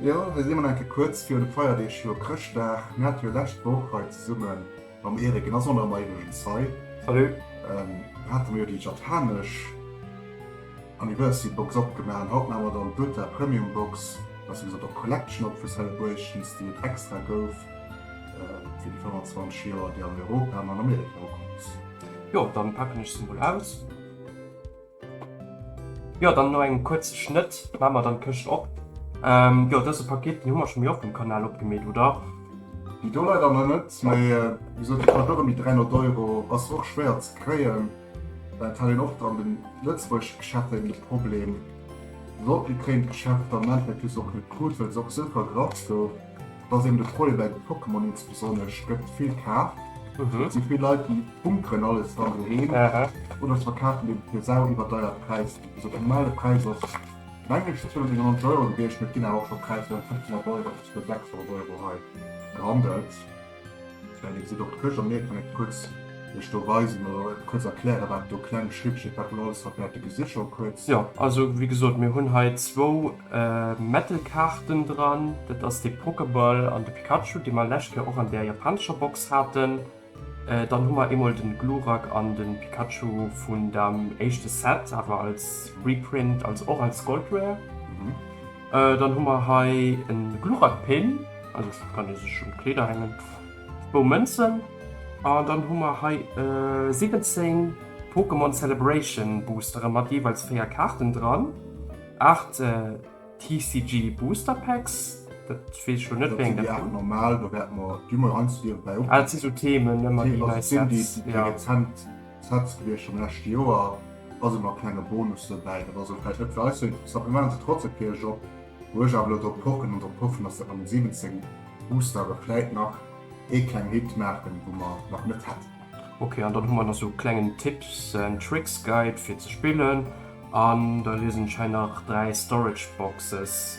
Jo, hei si mer enke kuerz virun de Feierdeeg, jo Chrëschtdag. Mir hate jo lescht Woch hei zesumme mam Eric, en ass och nach ëmmer iwwregens hei, Salut! hate mer jo déi japanesch Anniversary Box opgemaach an haut maache mer dann d'Uta Premium Box, besser gesot och Collection op vu Celebrations, déi et extra gouf fir déi 25 Joer, déi an Europa an an Amerika ukomm ass. Jo, dann paken ech se mol aus. Jo dann no engem kuerze Schnëtt man mer dann d'Këscht op. Jo dëse Paket den hu mer scho méi oft um Kanal opgemeet, oder? Déi do leider nach net, mee wéi gesot déi kascht och ëm déi 300 Euro, ass och schwéier ze kréien. Dat hat een oft an de lëtzebuergesche Geschäften de Problem, sollt een kréien. D'Geschäft am Endeffekt hu se se och net krut, well se och esou vergraft gouf. Dass een de Freue bei de Pokémon nees besonnesch gëtt vill kaaft. Et si vill Leit, déi bunkeren alles dann doheem oder se verkafen deen fir sau iwwerdeiert Präisser. Also de normale Präis ass meng ech 299 Euro gewiescht, mee et ginn awer och scho Präisser ëm 500 Euro bis bei 600 Euro hei gehandelt. Jo, also wéi gesot, mir hunn hei zwou Metal-Kaarten dran. Dat ass de Pokeball an de Pikachu, déi mer lescht Kéier och an där japanescher Box haten. Dann hu mer eemol de Glurak an de Pikachu vun dem éischte Set, awer als Reprint, also och als Gold Rare. Dann hu mer hei e Gluchatpin, also dat kann ee sech un d'Kleeder hängen, zwou Mënzen an dann hu mer hei 17 Pokémon Celebration Boostere mat jeeweils 4 Kaarten dran, 8 TCG Booster Packs, dat weess ech elo net wéi eng dat sinn. Dat sinn déi 8 normal, do wäerte mer déi mol anzwiewen bäi. Ah dat si sou Themen, ëmmer déi nei Sets, jo. D'Sätz gewiescht vum leschte Joer, ass ëmmer e klenge Bonus dobäi. Dat ass elo vläicht net fir eis esou interessant. Mir maachen se trotzdeem fir iech op, wou ech awer elo drop pochen an drop hoffen, dass der am 17 Buchstabe vläicht nach ee kleng Hit maachen, wou mer nach net hätten. Ok, an dann hu mer nach esou e klengen Tips and Tricks Guide fir ze spillen an da liesen ech hei nach 3 Storage Boxes.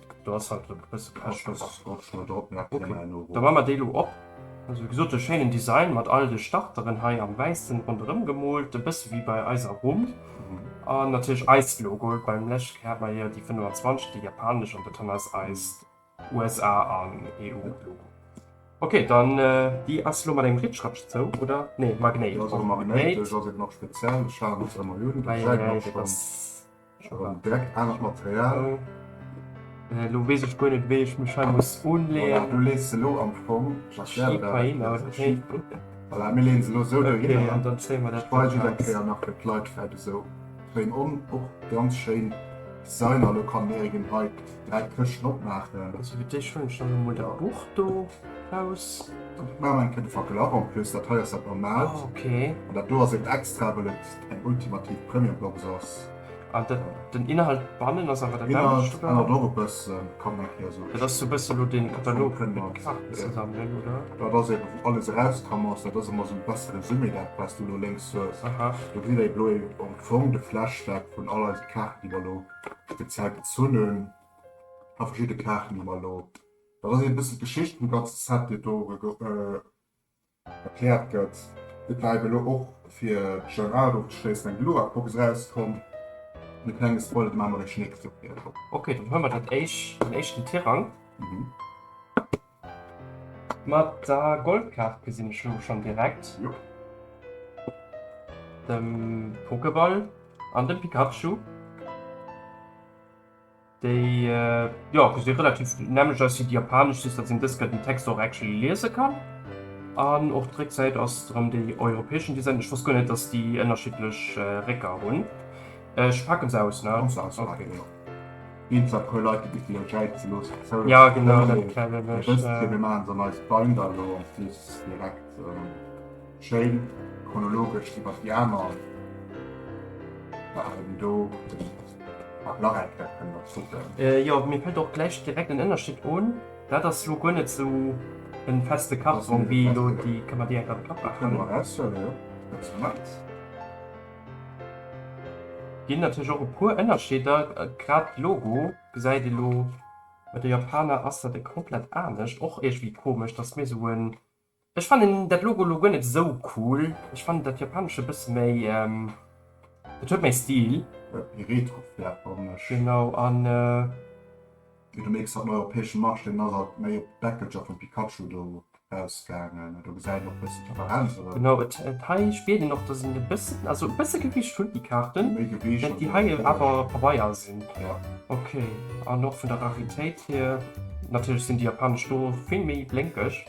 Do ass halt e bësse Pech, dass ech och schonn drop nach kënne hei no. Da man mer déi elo op. Also wéi gesot e schéinen Design mat all de Starteren hei am wäissen ronderëm gemoolt, e bësse wéi bei eiser Rumm. An natierlech eist Logo, beim leschte Kéier hat mer jo déi 25, déi japanesch, an dat han ass eist USA an EU Logo. Ok, dann déi ass elo mat engem Ritschratsch zou, oder? Nee, Magnéit. Déi ass elo magnéitesch, ass et nach speziell? Ech haten se ëmmer un. Eieiei, dat ass. Direkt anert Material. Lo wees ech guer net wéi ech mech hei muss unleeën. Du lees se lo am Fong just hei hinnert. Voilà mir leeën se lo sou do hinnert an dann zéie mer dat Bild eis eng Kéier nach fir d'Leit fett esou frame on. Och ganz schéin Designer. Lo kann d'Meregin hei dräi Këschten opmaachen. Also fir d'éischt huelen ech dann emol dat Buch do raus. Ech maachen eng Kéier de Fackel ab. En plus dat hei ass dat normaalt an dat do ass en extra wëll et. eng ultimativ Premiumbox ass. An den, den Inhalt bannen ass awer den nämmlecht, oder? Den Inhalt ännert och e bëssen, kann eng Kéier esou. Dat ass sou e bësse lo dee Katalog mat de Kaarten zesammelen, oder? Dat ass eben, wou alles erauskamm ass. Dat ass ëmmer esou e bësse Resumé, dat wat s du elo lénks hues. Aha. Do kritt Der elo ee, am Fong, de Flashback vun all eise Kaarten, déi mer elo speziell gezunn hunn, a verschidde Kaarten, déi mer elo, dat ass ee bësse d'Geschicht vum ganze Set, déi et do erugëtt. Erkläert gëtt. Et war eben elo och fir Gérard ofzeschléissen eng Luax-Box erauskomm. E klenge Spoiler, do maache mer ee Schnéck dofir. Ok, dann huele mer dat éischt, den éischten Tirang. Mat der Goldkaart gesinn ech elo schonn direkt de Pokéball an de Pikachu. Déi jo ech si relativ nämlech ass si japanesch si dat sinn dës gëtt den Text och actually liese kann. An och d'Récksäit ass rëm déi europäeschen Design. Ech wosst guer net, datt déi ënnerschiddlech Récker hunn. Ech pake se aus, ne? Muss aus, ok. Ginn et zwar e puer Leit, déi bis déi entjäit ze loossen zou. Jo genau, dat kennen ech. Mee dëst fir mir maachen se an eis Binder elo en plus direkt. Schéin chronologesch iwwert déi aner Farwen do. Mat Lareckere kënne mer kucken. Jo, mir fällt och gläich direkt en Ënnerscheed on. Dat ass lo guer net sou e feste Karton wéi elo déi. Kënne mer direkt an de Kapp maachen. Kënne mer eraushuelen, jo. Ganz gemaach. Ginn natierlech och e puer Ënnerscheeder. Grad d'Logo gesäit ee lo. Bei de Japaner ass dat e komplett anescht. Och iergendwéi komesch, dass mir sou e. Ech fannen dat Logo lo guer net esou cool, ech fannen dat japanescht e bësse méi, et huet méi Stil. Jo, méi retro vläch, fannen ech. Genau, an. Fir de Mixer, den europäeschen Marché, deen ass alt méi op d'Deckelcher vum Pikachu do rausgaangen, do gesäit een och e bëssen d'Differenz erëm. Genau, et hei spiert een och, dass en e bëssen, also e bësse Gewicht hunn déi Kaarten, méi Gewicht, wärend déi hei awer Pabeier sinn. Jo. Ok, an och vun der Raritéit hier, natierlech sinn déi japanesch do vill méi blénkeg.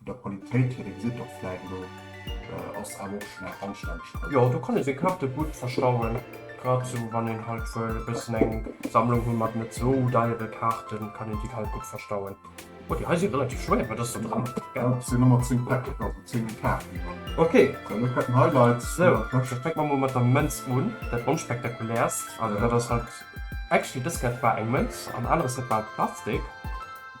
Vun der Qualitéit hier, dee gesitt och vläit elo, ass awer och schonn eng anstänneg Qualitéit. Jo, do kann ee seng Karte gutt verstauen, grad sou wann een halt wëll e bëssen eng Sammlung hu mat net sou deiere Kaarten, kann een déi halt gutt verstauen. Oh, déi hei si relativ schwéier, wat ass do dran? Dat sinn ëmmer 10 Päck, also 10 Kaarten dran. Ok. Dann elo d'Petn Highlights. Sou, da fänke mer mol mat der Mënz un, dat onspektakulärst. Also dat ass halt, actually dës Kaart war eng Mënz an aneres, dat war Plastik.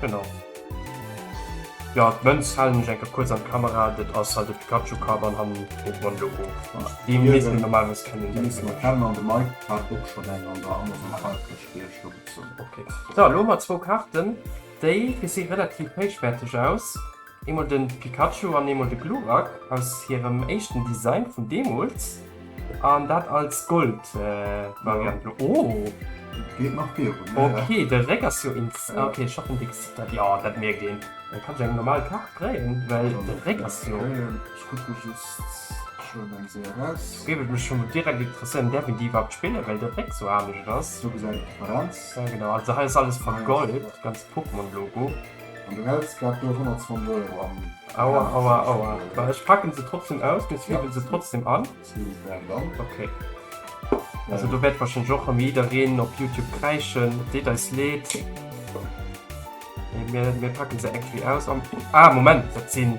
Genau. Jo, d'Mënz halen ech enker kuerz an d'Kamera, dat ass halt e Pikachu-Kapp an hannen e Pokémon-Logo. Dee misst een normalerweis kennen. Dee misst een kennen an de Mike hat och schonn eng an der Amazon Artgesch fir iech do gezunn. Ok. Sou, elo hu mer zwou Kaarten, déi gesi relativ héichwäerteg aus. Eemol den Pikachu an eemol de Glurak aus hirem éischten Design vun deemools an dat als Gold Variant. Oh dat geet nach vir un ja ja. Ok de Réck ass jo ins ok ech haten dee gesi dat jo dat mierkt een. Dann kann ech eng normal Kaart dréien well de Réck ass jo. Ech kucke just schonn eng Séier raus. Do géif et mech schonn direkt interesséieren däerf een déi iwwerhaapt spillen well de Réck sou anescht ass. Do gesäit een d'Differenz. Genau also hei ass alles vergoldet, ganz Pokémon Logo. An du häls grad do 120 Euro am. Aua, aua, aua. Well ech packen se trotzdem aus, mir zwiwwelen se trotzdem an. Zwiwwelen wären dann. Okay. Also do wärt wahrscheinlech och erëm jiddereen op Youtube kräischen, et deet eis leed. Mee mir packen se actually aus am. Ah, Moment, dat sinn.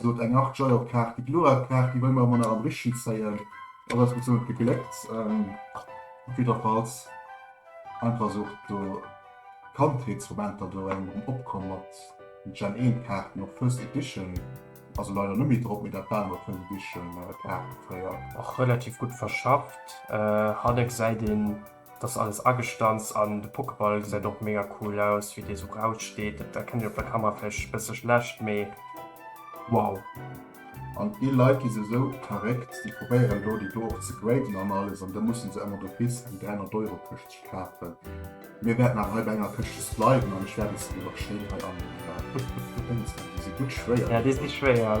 Sot eng Art Joy of Kaart. Déi kloer Kaart déi wëlle mer emol nach am Richtchen zéien. Ass eis bis elo gegléckt. Op jidderfalls einfach sou do Kandheetsmomenter do eng um Opkomm mat den Gen 1 Kaarten op First Edition. Also leider net méi drop, mee dat waren emol First Edition Kaarte fréier. Och relativ gutt verschafft. Hanne gesäit een. Dass alles agestanzt an de Pokeball gesäit och mega cool aus wéi dee sou raus steet. Dat erkennt een op der Kamera vläicht e bësse schlecht, mee wow. An déi Leit déi se esou verréckt, déi probéieren do déi do och ze graden an alles an da mussen se emmer do bis eng 300 Euro Këscht kafen. Mir wäerten awer hei bei enger Këschtes bleiwen an ech wäert eis dann elo schéin hei anleeën. Déi si gutt schwéier. Jo, déi si schwéier.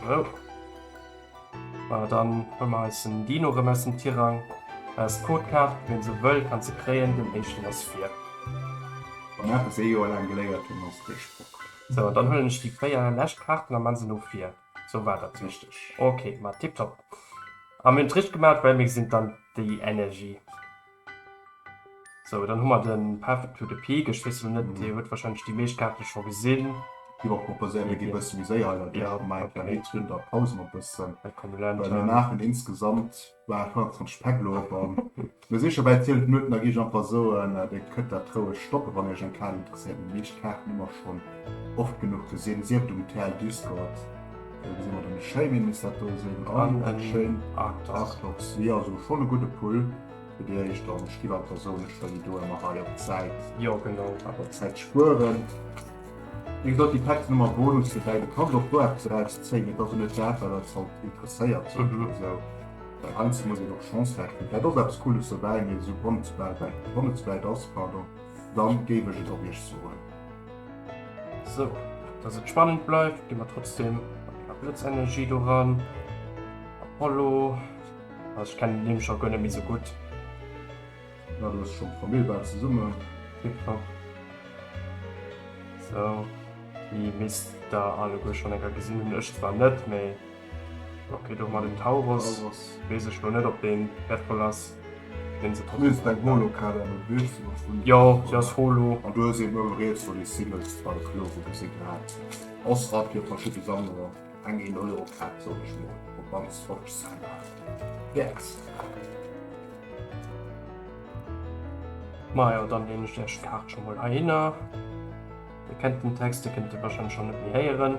So. Voilà, dann hun mer eis den Dino rem aus dem Tirang. Hei ass d'Codekaart, ween se wëll kann se kréien, den éischten ass vir. Wann eppes ee Joer laang geléiert hun ass dee Sproch. So, an dann huelen ech déi 4 lescht Kaarten a man se lo vir. So war dat richteg. Ok, ma tiptop. A mir hun et richteg gemaat, well mir gesinn dann déi Energie. So, dann hu mer de Path to the Peak. Ech weess elo net, Dir hutt warscheinlech déi meescht Kaarte scho gesinn. Gi mer proposéieren, mir gi e bësse méi séier heimadder duerch. Mir maache e kleng Réckchen, da pause mer e bëssen, well mir maachen insgesamt, war et, 25 Päck elo op. A mir si scho bäi 12 Minutten. Da gi ech einfach soen, Dir kënnt dat roueg stoppen, wann Iech eng Kaart interesséiert. Mee déi meescht Kaarten hu mer schonn oft genuch gesinn, sief et um Terre Duscourt, Schéin is dat do sinn an en schéin Arthaus si also schon e gudde Pull fir Dir Iech dann Stiwer persounlech well do ëmmer hei op d'Säit Jo genau awer Zäit spueren. Wéi gesot déi Päck sinn ëmmer Bonus fir däi. Du kanns och do eppes erauszéien. Et ass net dat wat eis haut interesséiert esou well heiansdo muss een och Chance rechnen. Dat ass eppes Cooles dobäi mee esou wann et zu wäit weg wann et zu wäit ass pardon dann géif ech et och Iech soen. So, dass et spannend bleift, gi mer trotzdem a Blëtzenergie do ran. Apollo, also ich kenne den schon gönne mich so gut. Ja, du hast schon Familienbar zusammen. Tipptopp. So, die misst da alleguer schon enger gesinn hun, ech zwar net, mee. Ok do mat den Tauros wees ech lo net op deen wertvoll ass. Jo se ass holo. Majo dann deen ech dech Kaart scho mol heihinner. Dir kennt den Text, dir kënnt e wahrscheinlech scho net méi héieren.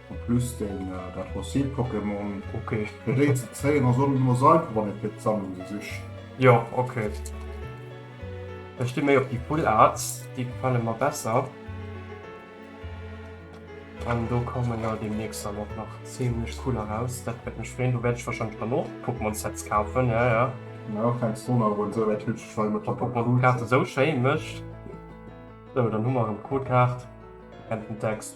En plus den dat fossilt Pokémon ok geréit ze zéien ass och net ëmmer sou einfach wann ee fir d'Sammlung se sicht. Jo ok ech sti méi op déi full arts, déi gefale mer besser an do kommen der deemnächst dann och nach zimmlech cool eraus. Dat wäert mech freen, do wäert ech wahrscheinlech dann och Pokémon Sets kafen ja ja. Elo fänks du un awer un sou wäit hübsch ech war ëmmer top op d'Pokémon Kaart esou schéi mécht. Sou dann hu mer erëm d'Codekaart en den Text.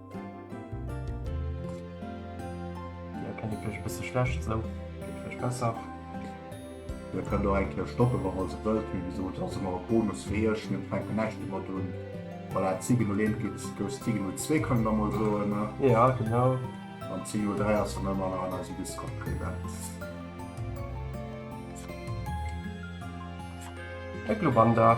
Ja, kann ich vielleicht ein bisschen schlecht, so. Geht vielleicht besser. Ihr könnt auch eigentlich stoppen, wenn ihr so wollt. Wie gesagt, das ist immer ein Bonus für euch. Wir fangen nicht immer an. Weil er Ziegen nur lehnt, gibt es Ziegen nur zwei, können wir mal so. Ne? Ja, genau. Und Ziegen nur drei hast du immer noch an unserem Discord präsent. Eglobanda.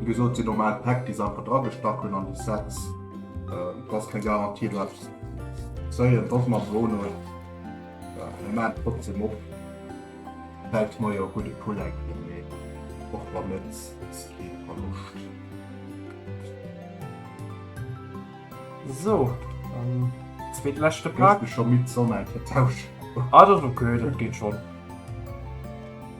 Wéi gesot sinn normal Päck déi se einfach dra gestach hunn an déi Sets. Et ass keng Garantie do eppes ze zéien. Et ass mat Wohn un. Mir maachen trotzdeem op. Vläicht hutt Dir jo e gudde Pull enkelt, mee och wann net, ass kee Verloscht. Sou, an zweetleschte Pak. Hues de scho midd, soll mer eng Kéier tauschen? Ah, dat ass ok, dat geet schonn.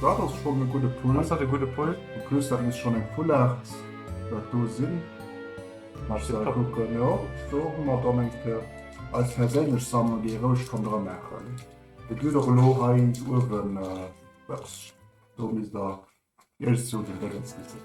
Dat ass schonn e gudde Pull. Ass dat e gudde Pull? En plus dat misst schonn eng Fullart dat do sinn. Mä ech soll kucken, jo, do hu mer dann eng fir eis perséinlech Sammlung, déi ee roueg kann dra maachen. Et gëtt och elo hei eens uewen eppes, do misst der Iech sou den Déngens gesinn.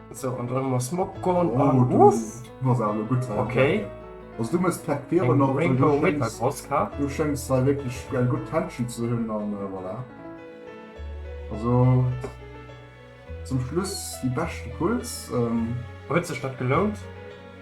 So an dann muss Mob goen an Oh, du, Uff! du bass awer elo gutt dran. Okay. Also du muss d'Pack Biere Eng nach, well Rainbow du Winter schéngs, Cross Kart. du schéngs hei wierklech eng gutt Tension ze hunn an voilà. Also zum Schluss déi beschte Pulls. Huet sech dat gelount?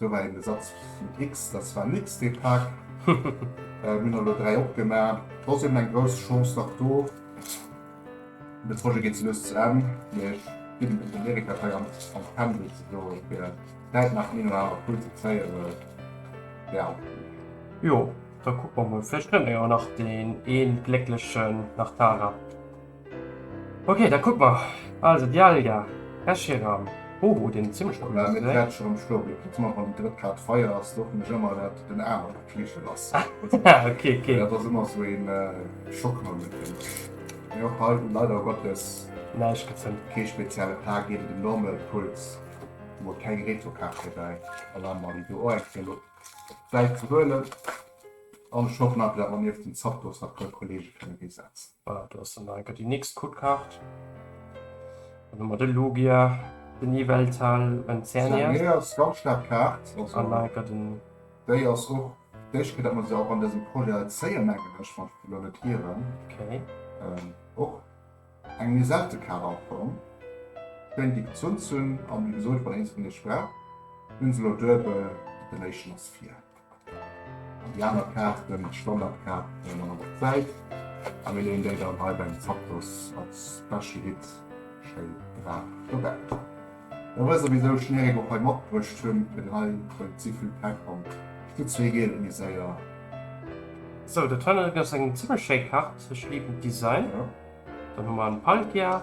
Do war een Besatz vun X, dass war nix dee Pak. Mir hunn der elo 3 opgema. Et ass eben eng grouss Chance nach do. De Projet geet lues zu Enn, mee ech bidden et den Erik-Datei an d'Pendel ze soen, fir zäitnah den een oder anere Pull ze kréien, well ja. Jo, da kucke mer mol. Vläicht fënne mer jo nach deen een Glécklechen nach d'Tara. Ok, da kuck mer. Also Dialga, Ed Sheeran, Bobo, deen zimlech cool ass. Ech wäert scho schloen. Kucks mer, wann déi drëtt Kaart feier ass, do hoffen ech ëmmer, dat den anere gutt fleege lass. Ok, ok. Dat ass ëmmer esou ee Schockmoment fir mech. Mee och hei huet leider Gottes näischt gezënnt. Kee spezielle Pla geet et um Normal Puls. Hu mer keng Retro-Kaart dobäi. Alarm Mali do och eng fir elo op d'Säit ze huelen. An ech hoffen einfach, dat mer nieft den Zapdos nach e puer Kollege kënne risetzen. Voilà, do ass dann nach enker déi nächst Codekart. Dann hu mer de Logia, den Yveltal an d'Zernia. D'Zernia ass ganz staark Kaart. An nach enker den. Déi ass och d'éischt Kéier, datt mer se och an dësem Projet zéien, mengen ech, wann ech mech elo net hieren. Okay. Och eng méi selte Kaart am Fong. Schéin déi gezunn ze hunn. A wéi gesot, wann eens vun iech brauch, hunn se elo duebel. Den éischten ass vir. An déi aner Kaart kënnt d'Standardkaart an der anerer Säit a mir leeën déi dann hei beim Zapdos als Special Hit schéi brav dobäi. Da wësst der wisou ech den Eric och hei matbruecht hunn, fir den hei huet si vill Pepp an déi zwee Geel hu mir séier. Sou, dat hei ass eng zimmlech schéi Kaart, ech liben d'Design. Dann hu mer en Palkia.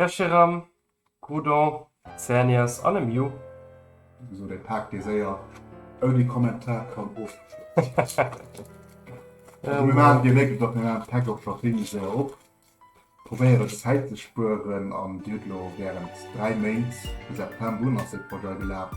Percheram, Groudon, Zernias an e Miu. Esou deng Paak dee séier ouni Kommentar kann ofgeschloss ginn. Mir maachen dir méiglech datt mir maachen d'Pack och scho wéineg séier op, probéieren Zäit ze spueren an dir hutt elo während 3 Méint, vu September un ass dee Projet gelaf,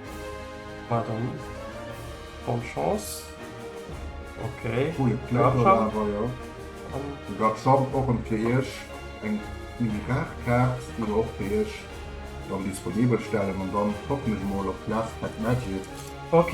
War dann bonne chance. Ok Garchomp och ëm fir Iech eng Minigarkaart déi mer och fir Iech dann disponibel stellen an dann hoffen ech mol op d'last pack magic. Ok.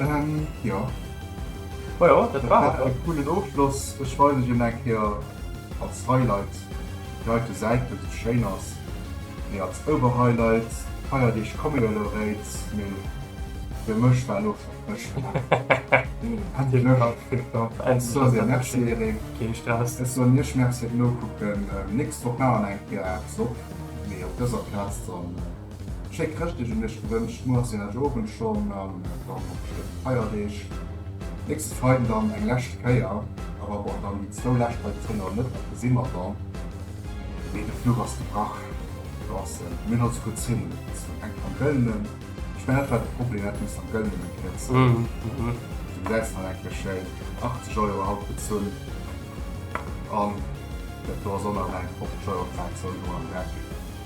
Ähm, jo. Ma jo, dat war et. E coolen Ofschloss. Ech weisen iech en eng Kéier als Highlight déi heite Säit, well se schéin ass. Mee als Oberhighlight, d'Feierdeeg komme jo elo eréit, mee fir mech war elo schonn Mëscht. Andy Murach kritt nach eng Soirée Merci Erik. Keen Stress. Ech soen iech Merci fir d'Nokucken. Nächst Woch maachen eng Kéier eppes op, mee op dëser Plaz dann. Schéi Chrëschtdeeg un iech gewënscht, muer ass den Ädge-Owend schonn an dann och schëin Feierdeeg. Nächste Freiden dann eng lescht Kéier, awer bon, dann déi zwou lescht hei zénge mer net, da si mer dann. Mee de Fluch ass gebrach draussen, mir hunn also gutt Zeen un eis. An enk am Gëllenen, ech mengen dat war de Problem, dat muss am Gëllenen eng Kéier zéien, du gesäis nach enke schéin 80 Euro haut bezunn an dat do ass och nach eng 50 Euro Plaz, wou elo an Grève geet.